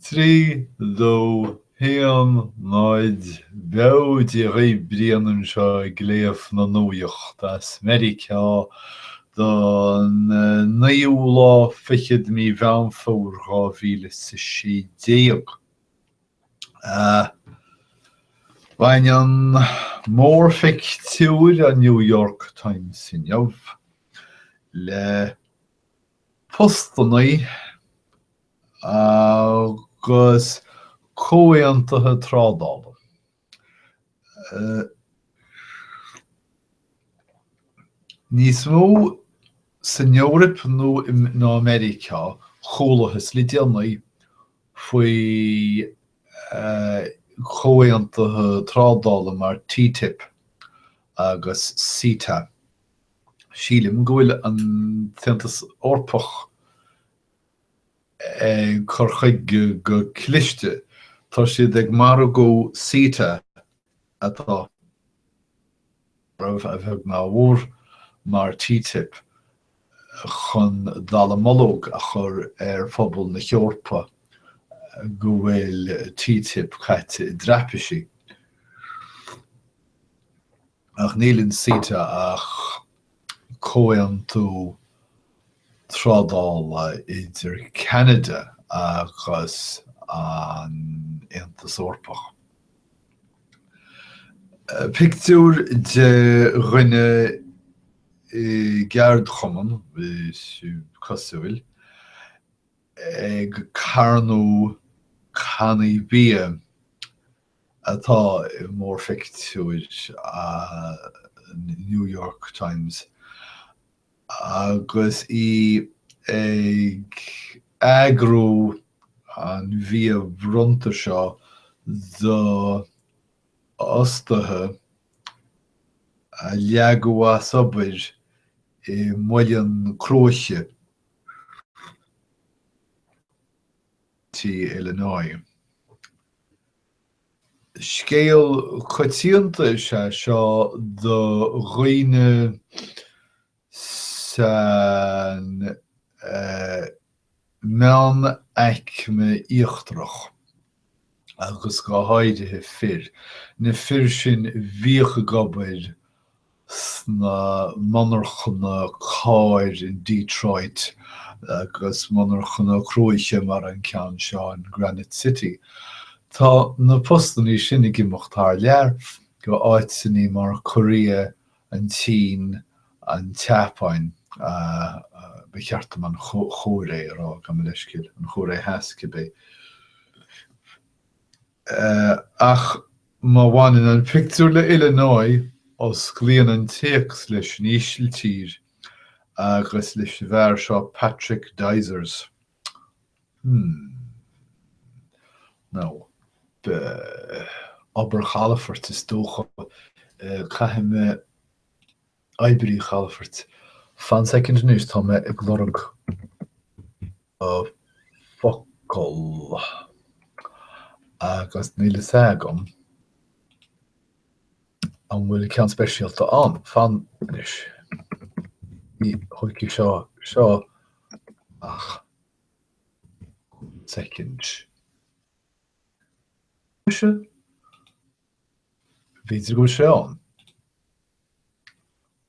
3, 2, 1, 0, Bail ó Dhia oraibh, Brian anseo ag léamh na nuaíocht as Meiriceá don naoú lá fichead de mí Mheán Fómhair dhá mhíle is a sé déag. Baineann mórphictiúr an New York Times inniu le. postannaí agus comhaontaithe trádála. Níos mó san Eoraip nó ná i Meiriceá, chualathas le déanaí faoi chomhaontaithe trádála mar TTIP agus CETA. Sílim go bhfuil an tAontas Eorpach ag cur chuige go cliste. Tá siad ag margú CETA atá roimh a bheag ná a mhór mar TTIP chun dallamullóg a chur ar phobal na hEorpa go bhfuil TTIP caite i dtraipisí. Ach níl in CETA ach comhaontú trádála idir Ceanada agus an Aontas Eorpach. Pictiúr de dhuine i gceardchumann, is cosúil, ag carnadh cannaí bia. atá i mórphictiúr an New York Times agus í ag eagrú an bhia bhronnta seo d'fhostaithe a leagadh as obair i muileann cruaiche istigh in Illinois. Scéal coitianta is ea seo do dhaoine san meánaicme íochtarach agus go háirithe fir. Na fir sin bhíodh ag obair sna monarchana carr in Detroit agus monarchana cruach mar an ceann seo in Granite City. Tá na postannaí sin ag imeacht thar lear, go áiteannaí mar Korea, an tSín, an tSeapáin, ba cheart dom an Chóiré a rá, gabh mo leithscéal, an Chóiré Theas cibé. Ach má bhaineann an pictiúr le Illinois, osclaíonn an téacs leis an Ísiltír agus leis an bhfear seo Patrick Dyzers. Hmm. Nó, oibrí chalafoirt is dócha. Caithfidh mé oibrí chalafoirt. Fan soicind anois, tá mé ag lorg. na focail agus níl fhios agam an bhfuil ceann speisialta ann fan anois. Ní thógfaidh sé seo ach second. B'fhéidir go bhfuil sé ann.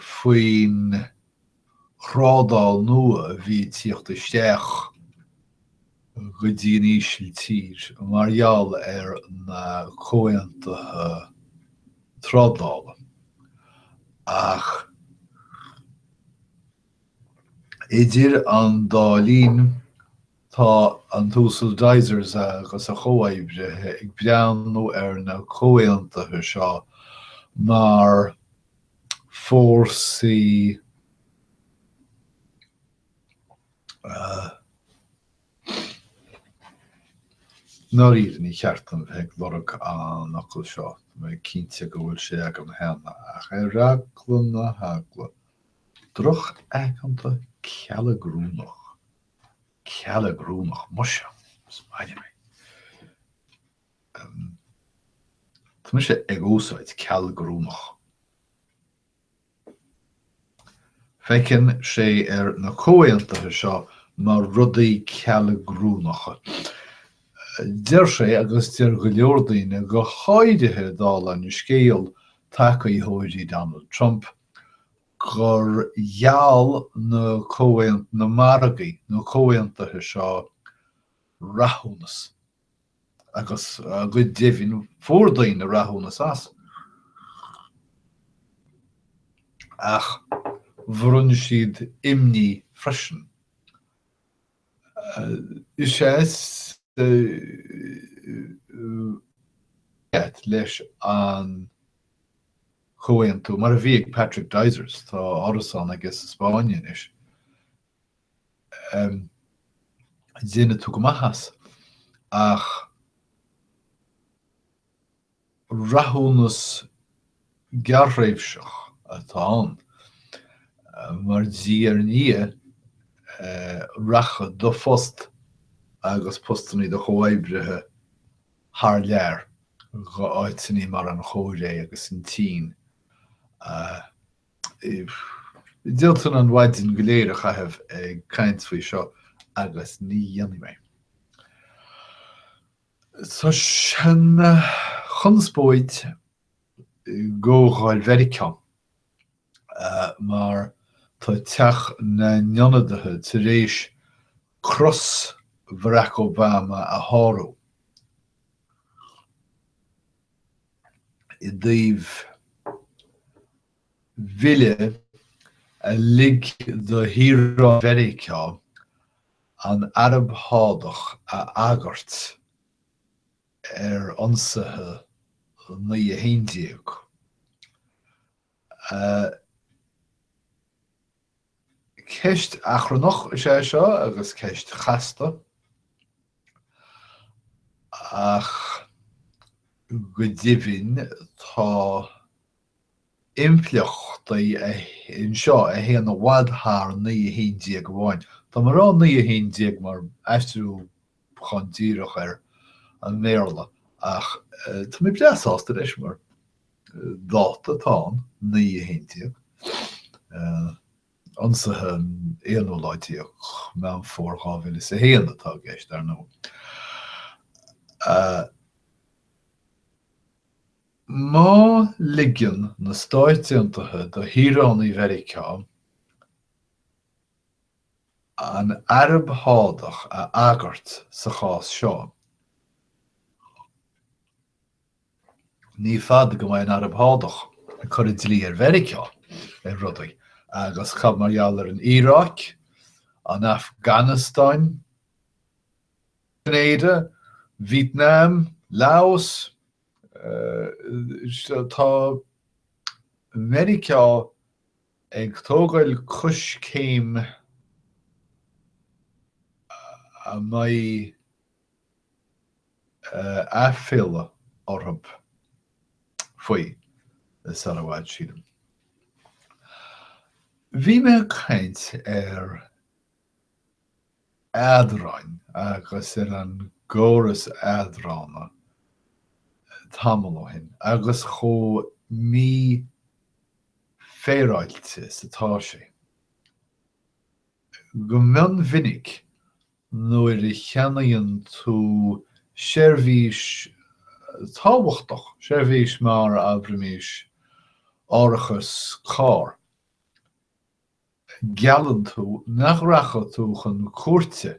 faoin trádáil nua a bhí ag tíocht isteach go dtí an Ísiltír mar gheall ar na comhaontuithe trádála. Ach idir an dá linn, Tá an tUasal Dysers agus a chomhoibrithe ag breathnú ar na comhaontuithe seo mar fórsaí nár ní cheart dom bheith ag lorg an fhocail seo, mé cinnte go bhfuil sé agam cheana, ach ar eagla na heagla drochaigeanta cealgrúnach. Cealgrúnach muise is maith liom é. Tá mise ag úsáid cealgrúnach. Feiceann sé na comhaontuithe seo mar rudaí cealgrúnacha. Deir sé agus deir go leor daoine go háirithe dála an scéal tacaitheoirí Donald Trump, gur gheall na comhaont na margaí, na comhaontuithe seo rathúnas agus go deimhin fuair daoine rathúnas as. Ach bhronn siad imní freisin. Is ea is leis an Chomhaontú, mar a bhí ag Patrick Dyzers, tá árasán aige sa Spáinn anois. Déanfaidh tú go maith as. Ach rathúnas gearrthréimhseach atá ann, mar diaidh ar ndiaidh rachaidh do phost agus postannaí do chomhoibrithe thar lear, go áiteanna mar an Chóiré agus an tSín. D'fhéadfainn an mhaidin go léir a chaitheamh ag caint faoi seo agus ní dhéanfaidh mé. Tá sé ina chonspóid i gComhdháil Mheiriceá mar tá Teach na nIonadaithe tar éis cros Bharack Obama a shárú i dtaobh bhille a lig do shaoránaigh Mheiriceá an Araib Shádach a agairt ar ionsaithe 9 11. Ceist achrannach is ea seo agus ceist chasta. Ach go deimhin tá impleachtaí anseo a théann i bhfad thar 9 11 amháin. Tá mé ag rá 9 11 mar aistriúchán díreach ar an mBéarla ach tá mé breá sásta leis mar. Dáta atá ann, 9 11, ionsaithe an 1ú lá déag Meán Fómhair 2001 atá i gceist, ar ndóigh. Má ligeann na Stáit Aontaithe do shaoránaigh Mheiriceá an Araib Shádach a agairt sa chás seo, Ní fada go mbeidh an Araib Shádach ag cur an dlí ar Mheiriceá ar rudaí agus cad mar gheall ar an Iaráic, an Afganastáin, Grenada, Vítneam, Laos, tá Meiriceá ag tógáil coiscéim a mbeidh. aiféala orthu faoi, sar i bhfad sílim. Bhí mé ag caint ar eadráin agus ar an gcóras eadrána tamall ó shin agus chomh mífhéaráilte is atá sé. Go mion mhinic Nuair a cheannaíonn tú seirbhís tábhachtach, seirbhís mar, abraimis, árachas carr, geallann tú nach rachaidh tú chun cúirte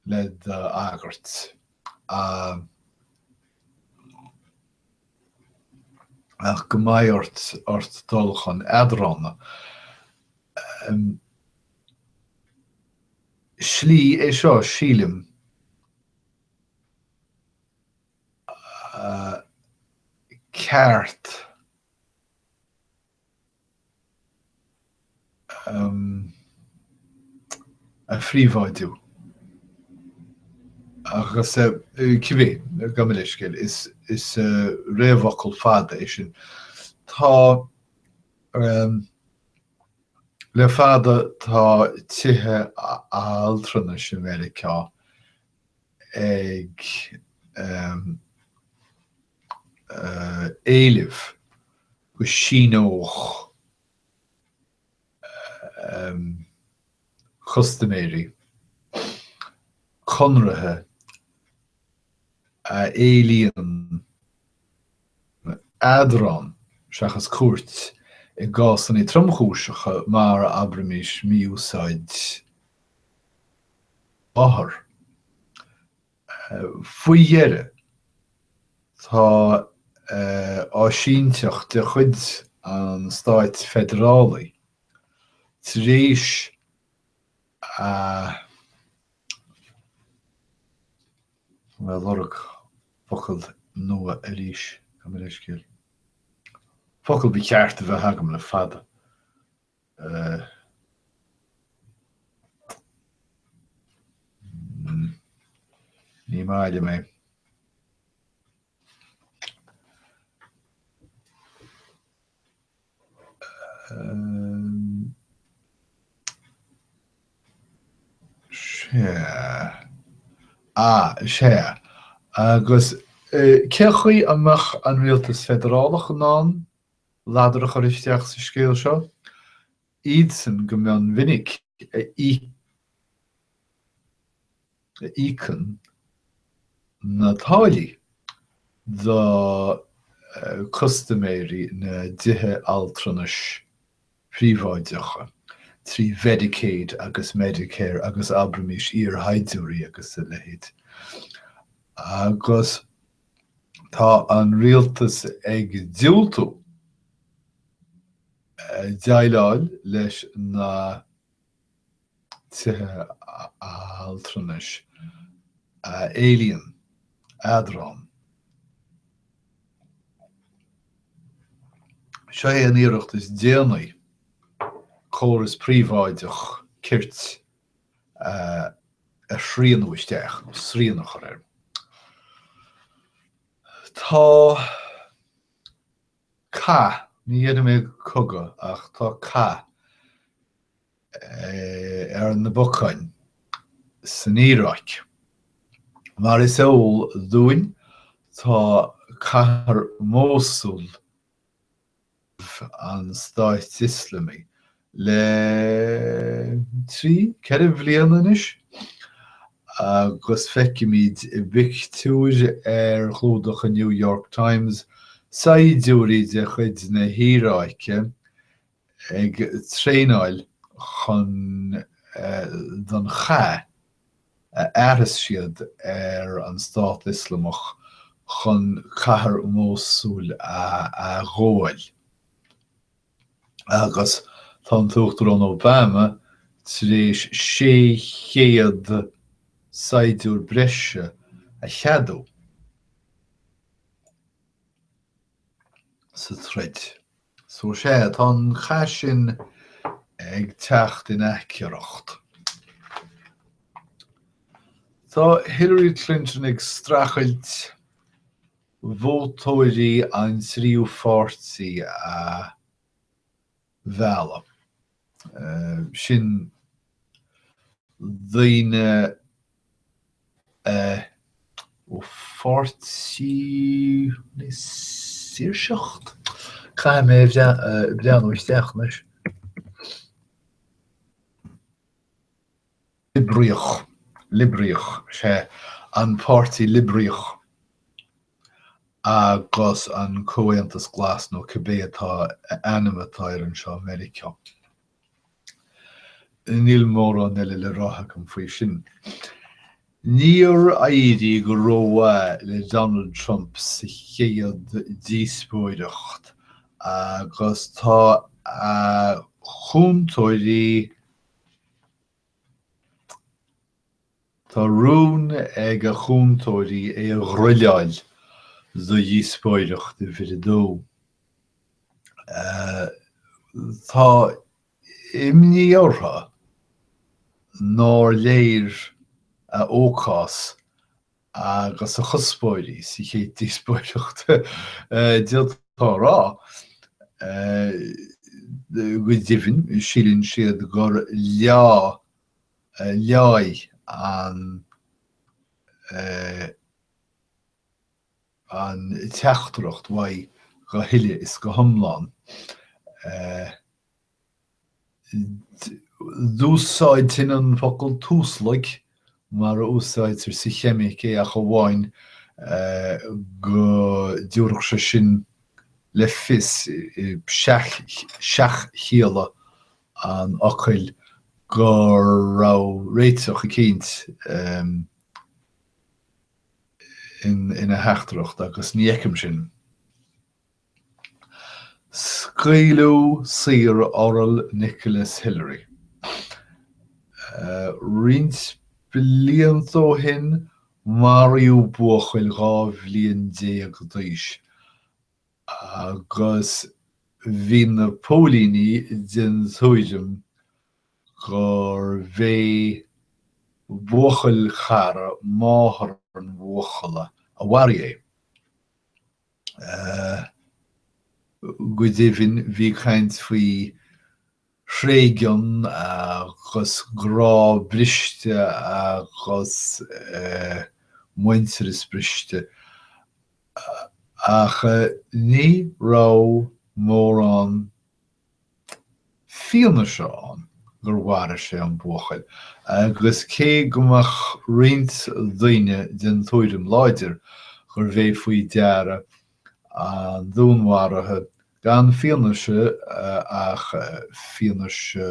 le d'agairt a. Ach go mbeidh ort ort dul chun eadrána. slí é seo, sílim. ceart. a phríobháidiú. Agus cibé, gabh mo leithscéal, is réamhfhocal fada é sin. Tá. Le fada tá tithe altranais i Meiriceá ag éileamh go síneodh custaiméirí conraithe a éilíonn eadráin seachas cúirt i gcásanna tromchúiseacha mar, abraimis, mí-úsáid othar. Faoi dheireadh, tá áisínteacht de chuid an stáit feidearálaigh tar éis bhuel ag lorg focal nua arís. Gabh mo leithscéal. Focal ba cheart a bheith agam le fada. Ní maith liom é. Sea. Sea. Agus cé chaoi a mbeadh an Rialtas Feidearálach in ann ladar a chur isteach sa scéal seo? Iadsan go mion mhinic a a íocann na táillí do custaiméirí na dtithe altranais príobháideacha trí Mhedicaid agus Medicare agus abraimis iarshaighdiúirí agus a leithéid. Agus tá an rialtas ag diúltú déileáil leis na. tithe altranais a éilíonn eadráin. Seo é an iarracht is déanaí córas príobháideach cirt a shrianú isteach nó srian a chur air. Tá Cath, ní déarfaidh mé cogadh ach tá cath ar na bacáin san Iaráic. Mar is eol dúinn tá cathair Mhósúl i gcumhacht an Stáit Ioslamaigh le trí, ceithre bliana anois agus feicimid i bpictiúr ar chlúdach an New York Times saighdiúirí de chuid na hIaráice ag traenáil chun don chath a fhearfas siad ar an Stát Ioslamach chun cathair Mhósúil a ghabháil. agus tá an tUachtarán Obama tar éis 600 saighdiúir breise a cheadú sa troid. So is ea, tá an cath sin ag teacht in aicearracht. Tá Hillary Clinton ag strachailt vótóirí an tríú páirtí a mhealladh. Sin daoine ó pháirtí na saoirseachta. Caithfidh mé breathnú isteach anois. Liobraíoch, Liobraíoch, is é An Páirtí Liobraíoch agus an Comhaontas Glas, nó cibé atá ainm atá air anseo i Meiriceá. Níl mórán eile le rá agam faoi sin. Níor éirigh go rómhaith le Donald Trump sa chéad díospóireacht agus tá a chúntóirí, Tá rún ag a chúntóirí é a ghriolláil do dhíospóireacht uimhir a dó. Tá imní orthu nár léir a fhócas agus a chuspóirí sa chéad díospóireacht, d'fhéadfá a rá. Go deimhin, síleann siad gur leáigh an teachtaireacht uaidh go huile is go hiomlán. D'úsáidfinn an focal tuaslaig mar a úsáidtear sa cheimic é ach amháin go dtabharfadh sé sin le fios, i seach-chialla an fhocail, go raibh réiteach eicínt ina theachtaireacht agus ní fheicim sin. Scaoileadh saor Oral Nicholas Hillery roinnt blianta ó shin, maraíodh buachaill dhá bhliain déag d'aois agus bhí na póilíní den tuairim gur bh'é buachaill cara máthair an bhuachalla a mharaigh é. Go deimhin bhí caint faoi thréigean agus grá briste agus muintearas briste ach ní raibh mórán fianaise ann gur mharaigh sé an buachaill agus cé go mbeadh roinnt daoine den tuairim láidir gurbh é faoi deara an dúnmharaithe gan fianaise ach fianaise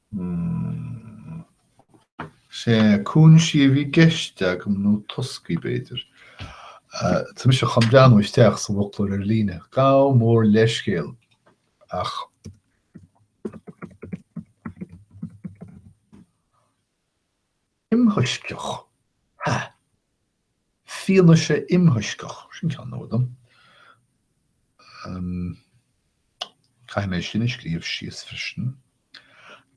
Sé cúinsí a bhí i gceist agam nó toscaí b'fhéidir. Tá mise chun breathnú isteach sa bhfoclóir ar líne. Gabh mo leithscéal ach imthoisceach. Ha! fianaise imthoisceach, sin ceann nua dom, caithfidh mé sin a scríobh síos freisin,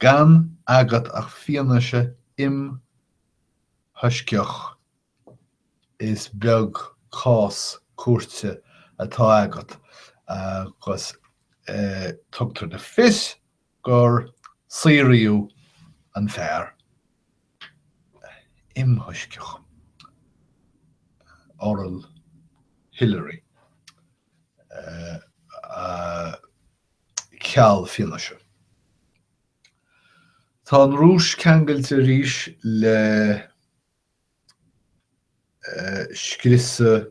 gan agat ach fianaise imthoisceach is beag cás cúirte atá agat agus tugtar le fios gur saoradh an fear imthoisceach, Oral Hilaire, a cheal fianaise. Tá an Rúis ceangailte arís le scriosadh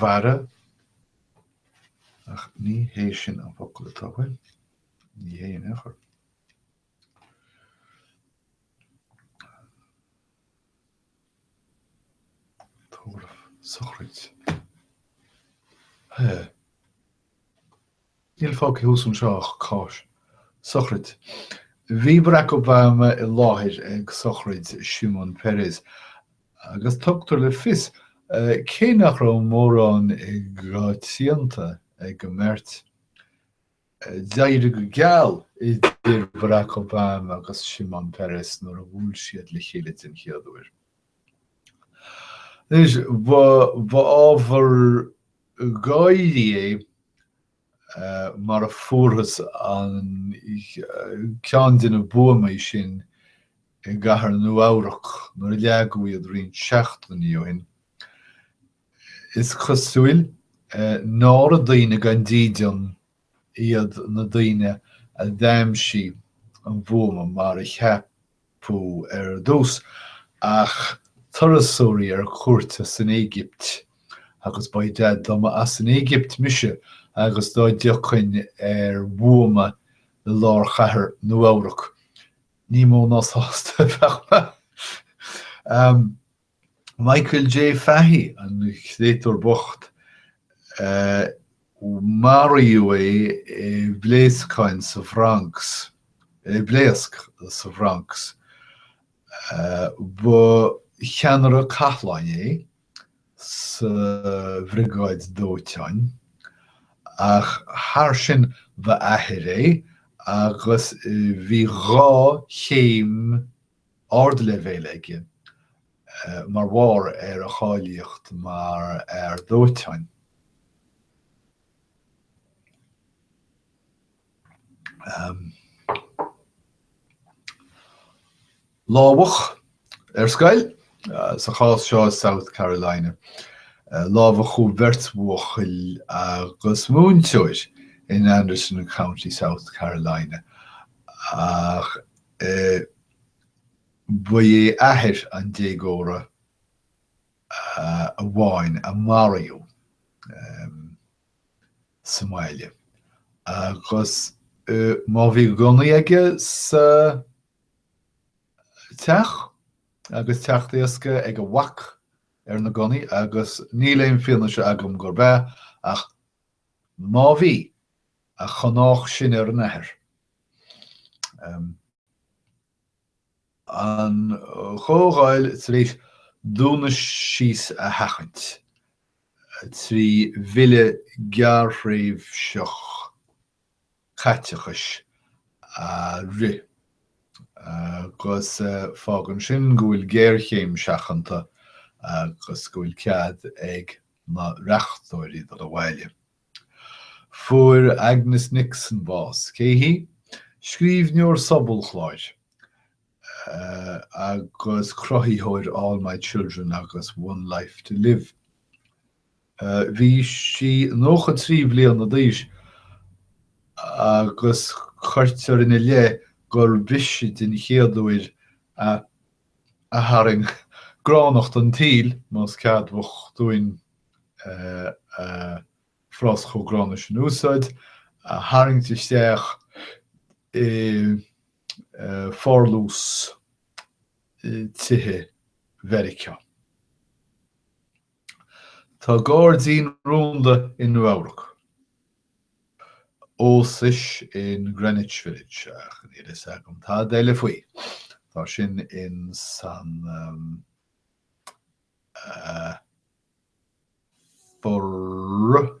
Bharra, ach ní hé sin an focal atá uaim. Ní hé in aon chor. Tórramh, sochraid. Hé! Níl fágtha thuas anseo ach cás sochraid. Bhí Barack Obama i láthair ag sochraid Shimon Peres agus tugtar le fios cé nach raibh mórán i gcoitiantas ag an mbeirt. D'éirigh go geal idir Barack Obama agus Shimon Peres nuair a bhuail siad le chéile den chéad uair. Anois, ba ábhar. gáire é mar a fuarthas amach ceann de na buamaí sin i gcathair Nua-Eabhrac nuair a leagadh iad roinnt seachtainí ó shin. Is cosúil nára daoine gan dídean iad na daoine a d'aimsigh an bhuama mar a cheap adh ar dtús ach turasóirí ar cuairt as an Éigipt agus dá mba gadaí as an Éigipt mise agus dá dtiocfainn ar bhuama i lár chathair Nua-Eabhrac ní mó ná sásta a bheadh mé. Michael J. Fahy, an créatúr bocht. Maraíodh é i bpléascáin sa Bhronx, i bpléasc sa Bhronx. Ba cheannaire cathláin é sa bhriogáid dóiteáin. Ach thar sin ba athair é agus bhí dhá chéim ardleibhéil aige mar bharr ar a cháilíocht mar fhear dóiteáin. Lámhach ar scoil, sa chás seo i South Carolina. Lámhachadh beirt bhuachaill agus múinteoir in Anderson County, South Carolina, ach Ba é athair an déagóra amháin a maraíodh sa mbaile agus má bhí gunnaí aige sa teach agus teacht éasca ag a mhac ar na gunnaí agus níl aon fianaise agam gurb ea ach Má bhí, a chonách sin ar an athair. An Chomhdháil tar éis dúnadh síos a sheachaint trí bhille gearrthréimhseach. caiteachais a rith agus fágann sin go bhfuil géarchéim seachanta agus go bhfuil cead ag na reachtóirí dul abhaile. Fuair Agnes Nixon bás. Cé hí? Scríbhneoir sobalchláir agus cruthaitheoir All My Children agus One Life to Live. Bhí sí 93 bhliana d'aois agus cuirtear ina leith gurb ise den chéad uair a tharraing gránnacht an tsaoil, más ceadmhach dúinn frása chomh gránna sin a úsáid, a tharraingt isteach i bpárlús tithe Mheiriceá. Tá gairdín rúnda i Nua-Eabhrac, ós is in Greenwich Village, ach níl a fhios agam tada eile faoi. Tá sin in san for.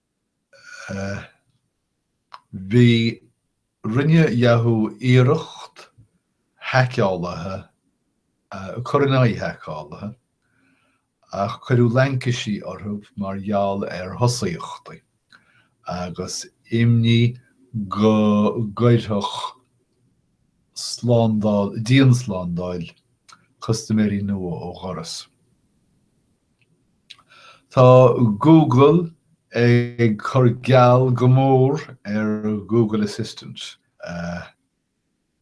Bhí Rinne Yahoo iarracht haiceálaithe a cur in aghaidh haiceálaithe, ach cuireadh laincisí orthu mar gheall ar thosaíochtaí agus imní go gcuirfeadh slándáil dianslándáil custaiméirí nua ó dhoras. Tá Google ag cur geall go mór ar Google Assistant,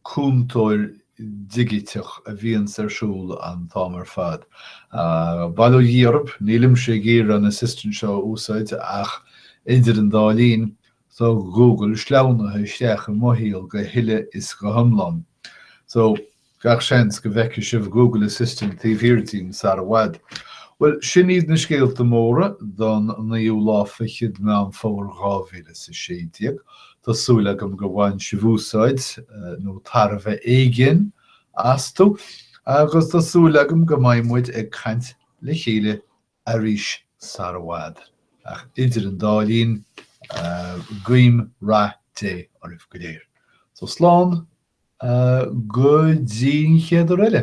cúntóir digiteach a bhíonns ar siúl an t-am ar fad. Bail ó Dhia oraibh, nílimse ag iarraidh an Assistant seo a úsáid ach idir an dá linn, tá Google sleamhnaithe isteach i mo shaol go huile is go hiomlán. Gach seans go bhfeicfidh sibh Google Assistant taobh thiar díom sara bhfad. Bhuel, sin iad na scéalta móra don naoú lá fichead Meán Fómhair 2016. Tá súil agam gur bhain sibh úsáid, nó tairbhe éigin, astu, agus tá súil agam go mbeidh muid ag caint le chéile arís sara bhfad. Ach idir an dá linn, guím rath Dé oraibh go léir. So slán go dtí an chéad uair eile.